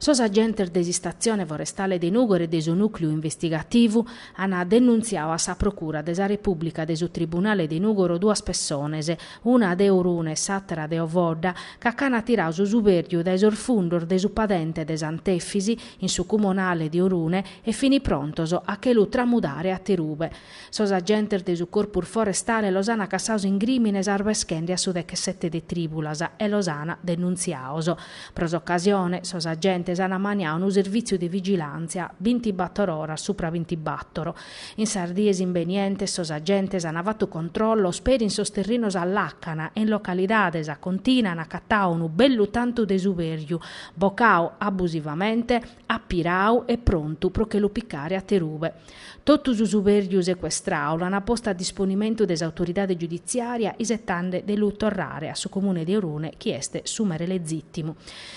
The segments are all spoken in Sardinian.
Sos agentes de s'istatzione forestale de Nùgoro e de su nùcleu investigativu ant denuntziadu a sa procura de sa Repùblica de su tribunale de Nùgoro duas pessones, una de Orune e s'àtera de Ovodda, ca ch'ant tiradu su subèrgiu dae sos fundos de su padente de Sant'Efisi, in su cumonale de Orune, e fin prontos a che lu tramudare aterube. Sos agentes de su Corpus Forestale los an cassaos in crìmines arbeschende a su dechessete de tribulas e los an denuntziaos. Pro s'occasione, sos agentes an maniau unu servitziu de vigilantzia bintibattor oras supra bintibattor. In sas dies imbenientes sos agentes an fattu controllos peri in sos terrinos a làcana e in localidades acontin'an accattau unu bellu tantu de subèrgiu, bocau abusivamente, apirau e prontu pro che lu picare aterube. Totu su subèrgiu secuestrau l'ant postu a disponimentu de s'autoridade giuditziària isetande de lu torrare a su Comune de Orune chi est su mere legìtimu.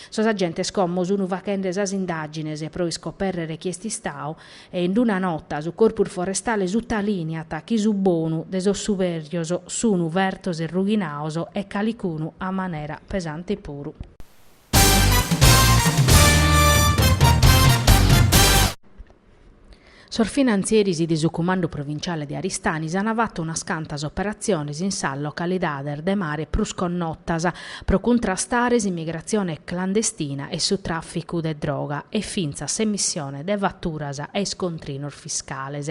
Sos agentes como sunu faghende sas indàgines pro iscopèrrere chie est istau e in una nota su Corpus Forestale sutalìniat chi su bonu de sos subèrgios sunu fertos e rughinaos e calicunu a manera pesante puru. Sos finantzieris de su Cumandu Provinciale de Aristanis an fatu unas cantas operatziones in sas localidades de mare prus connotas pro cuntrastare s'imigratzione clandestina e su tràficu de droga e fintzas s'emissione de faturas e iscontrinos fiscales.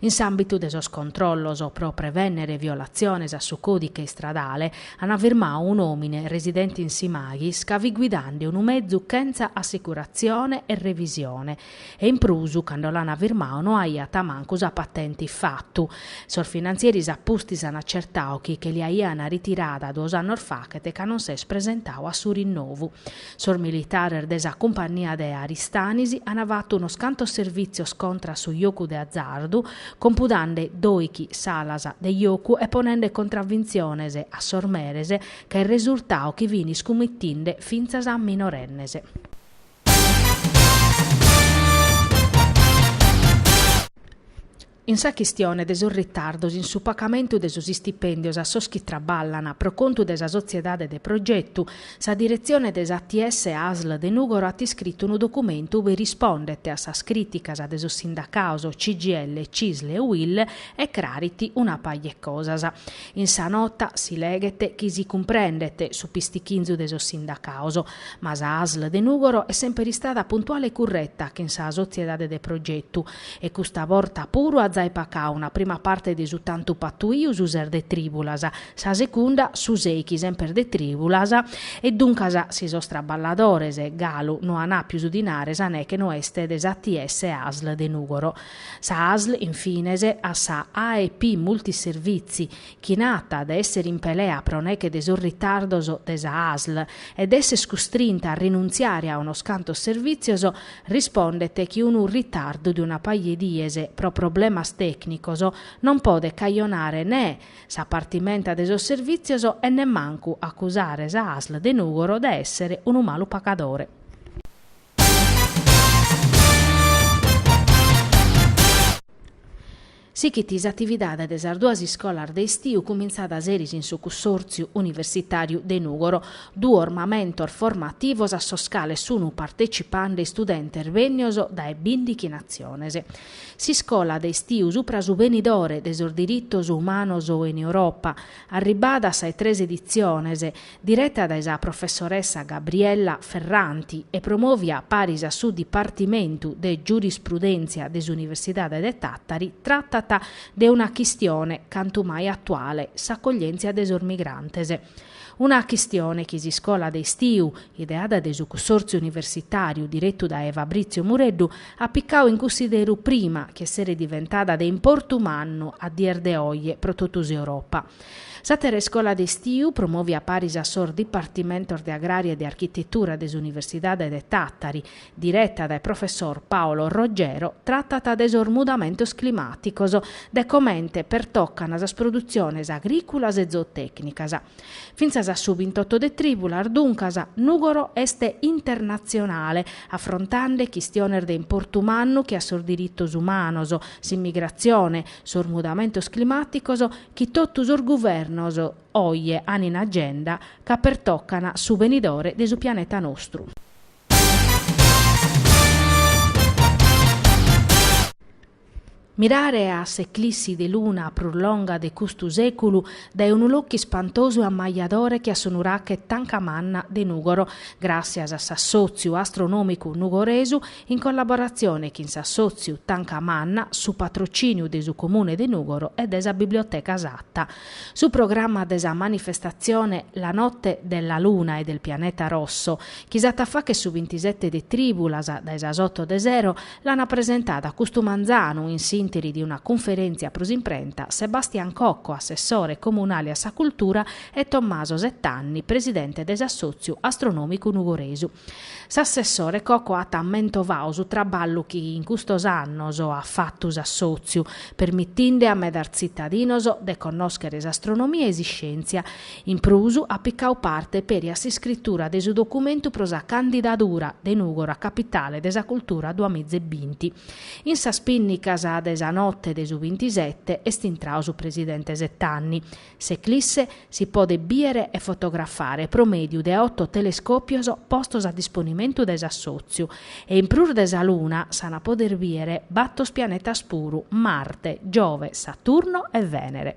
In s'àmbitu de sos controllos pro prevènnere violatziones a su còdiche istradale an firmau un'òmine residente in Simaghis ca fit guidande unu mezu chentza assicuratzione e revisione e in prus cando l'an firmau no aiat mancu sa patente in fatu. Sos finantzieris a pustis an acertau chi che li aian ritirada duos annos fachet e ca non s'est presentau a su rinnovu. Sos militares de sa cumpannia de Aristanis an fatu unos cantos servìtzios contra a su jocu de azardu, compudande dòichi salas de jocu e ponende contravintziones a sos meres, ca est resurtau chi fin iscumitinde fintzas minorennes. In sa chistione de sos ritardos in su pacamentu de sos istipèndios a sos chi traballan pro contu de sa sotziedade de progetu, sa diretzione de s'ATS Asl de Nùgoro at iscritu unu documentu ue rispondet a sas crìticas de sos sindacaos CGIL, Cisl e UIL e crarit una paja 'e cosas. In sa nota si leghet chi si cumprendet su pistichinzu de sos sindacaos, ma sa Asl de Nùgoro est semper istada puntuale e curreta chin sa sotziedade de progetu, e custa borta puru at jai pacau una prima parte de su tantu patuiu su ses de tribulas, sa secunda su seichi semper de tribulas e duncas si sos traballadores galu no an apiu su dinare sa neche no est de s'ATS Asl de Nugoro. Sa Asl in fines a sa AEP Multiservizi chi nat de èssere in pelea pro neghe de sos ritardos de sa ASL e de èssere custrinta a rinuntziare a unos cantos servìtzios, rispondet chi unu ritardu de una paja 'e dies pro problemas tècnicos non podet cajonare nè sa partimenta de sos servìtzios e nemmancu acusare sa ASL de Nùgoro de èssere unu malu pagadore. Sighit s'atividade de sas duas iscolas de istiu cumintzada seris in su Cussòrtziu universitàriu de Nùgoro, duos mamentos formativos a sos cales sunt partetzipande istudentes bènnios dae bìndighi natziones. S'iscola de istiu supra su benidore de sos diritos umanos in Europa, arribada a sas tres editziones, direta dae sa professoressa Gabriella Ferranti e promovia paris a su Dipartimentu de Giurisprudèntzia de s'Universidade de Tàtari, tratat de una chistione cantu mai atuale, s'acoglièntzia de sos migrantes. Una chistione chi s'iscola de istiu, ideada dae su cussòrtziu universitàriu diretu dae Fabrizio Mureddu, at picau in cussideru prima chi esseret diventada de importu mannu a dies de oje pro totu s'Europa. S'àtera iscola de istiu promovia paris a sos dipartimentos de Agrària e de Architetura de s'Universidade de Tàtari, direta dae professor Paolo Roggero, tratat de sos mudamentos climàticos, de comente pertocan sas produtziones agrìculas e zootècnicas. Fintzas a su bintotto de trìbulas, duncas, Nùgoro est internatzionale, afrontande chistiones de importu mannu che a sos diritos umanos, s'immigratzione, sos mudamentos climàticos chi totu sos guvernos oje an in agenda ca pertocan su benidore de su pianeta nostru. Mirare a s'eclissi de luna prus longa de custu sèculu dae unu locu ispantosu e ammajadore che a su nurache Tanca Manna de Nùgoro, gràssias a s'assòtziu astronòmicu nugoresu, in collaboratzione chin s'assòtziu Tanca Manna, su patrocìniu de su Comune de Nùgoro e de sa Biblioteca Satta. Su programma de sa manifestatzione La notte della luna e del pianeta rosso, chi s'at a fàghere su bintisete de trìbulas dae sas oto de sero, l'ant presentadu custu manzanu in s'ìnteri de una cunferèntzia pro s'imprenta Sebastian Cocco, assessore comunale a sa cultura e Tommaso Settanni, presidente de s'assòtziu astronòmicu nugoresu. S'assessore Coco at mentovadu su traballu chi in custos annos at fatu s'assòtziu, permitinde a medas tzitadinos de connòschere s'astronomia e s'iscèntzia. In prus, at picadu parte peri a s'iscritura de su documentu pro sa candidadura de Nùgoro a Capitale de sa Cultura duas miza e binti. In sas pìnnicas de sa note de su bintisete est intradu su presidente Settanni, S'eclisse si podet bìere e fotografare pro mèdiu de oto telescòpios postos a disponimentu de s'assòtziu, e in prus de sa Luna s'ant poder bìere bator pianetas puru, Marte, Giove, Saturno e Vènere.